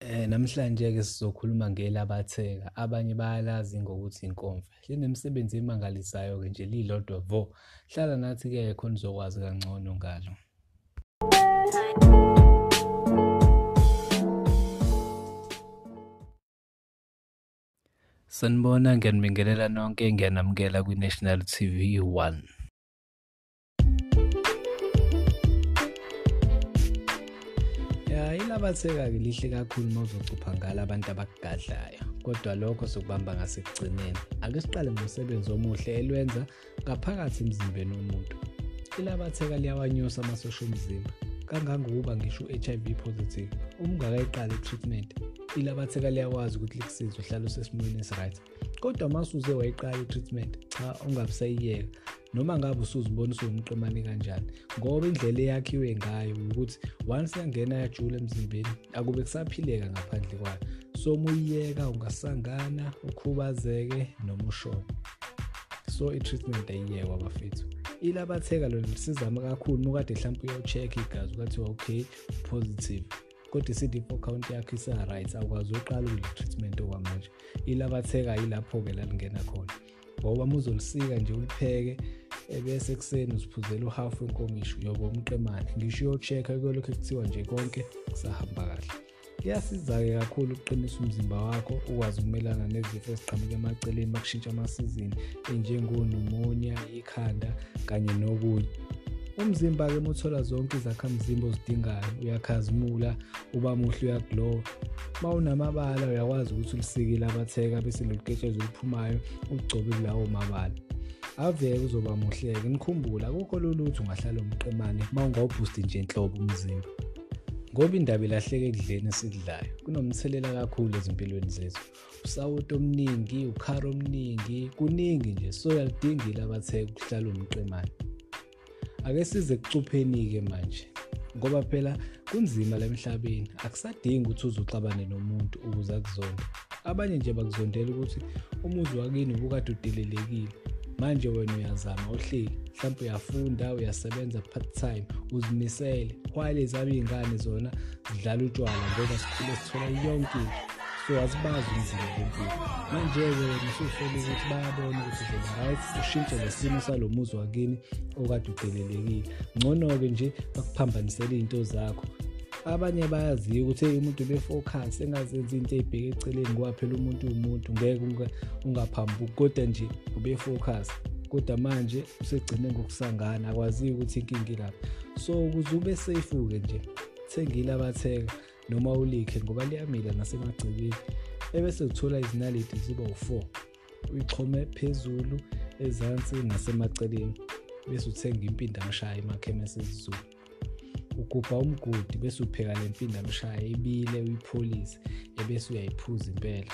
Eh namhlanje ke sizokhuluma ngelabatheka abanye bayalazi ngokuthi inkomfa linemisebenzi emangalisayo ke nje lilodwa vo hlala nathi ke khona uzokwazi kangcono ngalo Sanibona ngiyanibingelela nonke ngiyanamukela kwi-National TV 1 Abatheka-ke lihle kakhulu uma uzocupha ngalo abantu abakugadlayo kodwa lokho sokubamba ngasekugcineni ake siqale ngomsebenzi omuhle elwenza ngaphakathi emzimbeni womuntu ilabatheka liyawanyusa amasosha omzimba kangangokuba ngisho u-hiv positive uma ungakayiqali i-treatment ilabatheka liyakwazi ukuthi likusize uhlale usesimweni esi-right kodwa uma usuze wayiqala i-treatment cha ungabusayiyeka noma ngabe usuzibona usuwumqemane kanjani ngoba indlela eyakhiwe ngayo ukuthi once yangena yajula emzimbeni akube kusaphileka ngaphandle kwayo so uma uyiyeka ungasangana ukhubazeke noma ushone so i-treatment ayiyekwa bafethu ilabatheka lona lisizama kakhulu uma ukade mhlawumpe uyocheck-a igazi ukathiwa okay positive kodwa i-cd four count yakho isa-right awukwazi uqala ukule-treatment okwamanje ilabatheka yilapho-ke lalingena khona ngoba muzolisika nje ulipheke ebese ekuseni uziphuzela uhalf wenkomishi uyoba umqemane ngisho uyocheck-a kuyolokhu kuthiwa nje konke kusahamba kahle kuyasiza-ke kakhulu ukuqinisa umzimba wakho ukwazi ukumelana nezifo eziqhamuka emaceleni bakushintsha amasizini enjengonumonia ikhanda kanye nokunye umzimba-ke muthola zonke izakhamzimba ozidingayo uyakhazimula uba muhle uyaglowa uma unamabala uyakwazi ukuthi ulisikile abatheka bese loluketshezi oluphumayo ugcobe kulawo mabala aveke uzoba muhleke nikhumbula akukho lolutho ungahlala umqemane uma ungawubhusti nje nhlobo umzimba ngoba indaba ilahleke ekudleni esikudlayo kunomthelela kakhulu ezimpilweni zethu usawoti omningi ukhara omningi kuningi nje so yalidingile abatheka ukuhlala umqemane ake size kucupheni-ke manje ngoba phela kunzima la emhlabeni akusadingi ukuthi uze uxabane nomuntu ukuze akuzonde abanye nje bakuzondela ukuthi umuzi wakini ubukade udelelekile manje wena uyazama uhleli mhlawumbe uyafunda uyasebenza part time uzimisele while ezabo iy'ngane zona zidlala utshwala ngoba sikhule sithola yonke into so asibazi umzimba bempilo manje-ke ngisusole ukuthi bayabona ukuthi zoba right ushintshe lesimo salo muzi wakini okade udelelekile ngcono-ke nje bakuphambanisele iy'nto zakho abanye bayaziyo ukuthi umuntu befocus engazenzi into eyibheke eceleni ngoba phela umuntu umuntu ngeke ungaphambuki kodwa nje ubefocus kodwa manje usegcine ngokusangana akwaziyo ukuthi inkinga ilapha so ukuze ube safe-ke nje thengile abathenga noma ulikhe ngoba liyamila nasemagcekeni ebese uthola izinaliti ziba u-4 uyixhome phezulu ezansi nasemaceleni bese uthenga impindamshaya emakhemesi ezizulu ugubha umgodi bese upheka le mpindamshaya ibile uyipholise ebese uyayiphuza impela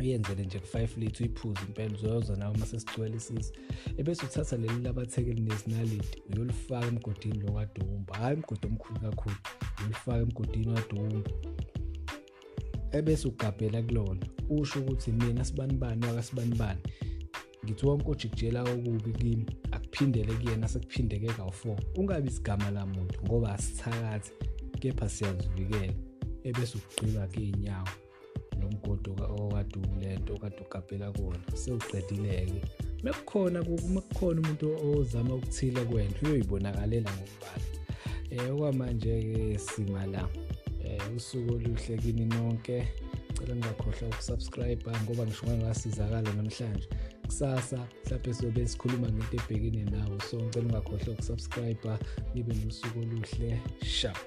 uyenzele nje ku-five lithi uyiphuze impela uzoyoza nawe uma sesigcwele isisi ebese uthatha leli labatheke elinezinalidi uyolifaka emgodini lo kadumba hhayi umgodi omkhulu kakhulu uyolifaka emgodini wadumba ebese ugabhela kulona usho ukuthi mina sibanibani wakasibanibani ngithi wonke ojikujela okubi kimi akuphindele kuyena sekuphindeke kawu-four ungabi isigama lamuntu ngoba asithakathi kepha siyazivikela ebese ukugqiba kuyinyawo lo mgodi okade ulento okade ugabhela kuwona sewuqedile-ke mekukhona mekukhona umuntu ozama ukuthile kwena uyoyibonakalela ngokubala um eh, okwamanje-ke sima la um usuku oluhle kini nonke cela ngingakhohlwa ukusubscribe ngoba ngisho ngangasizakala namhlanje kusasa mhlawumbe sizobe sikhuluma ngento ebhekene nawo so ngicela ungakhohlwa ukusubscribe nibe nosuku oluhle sharp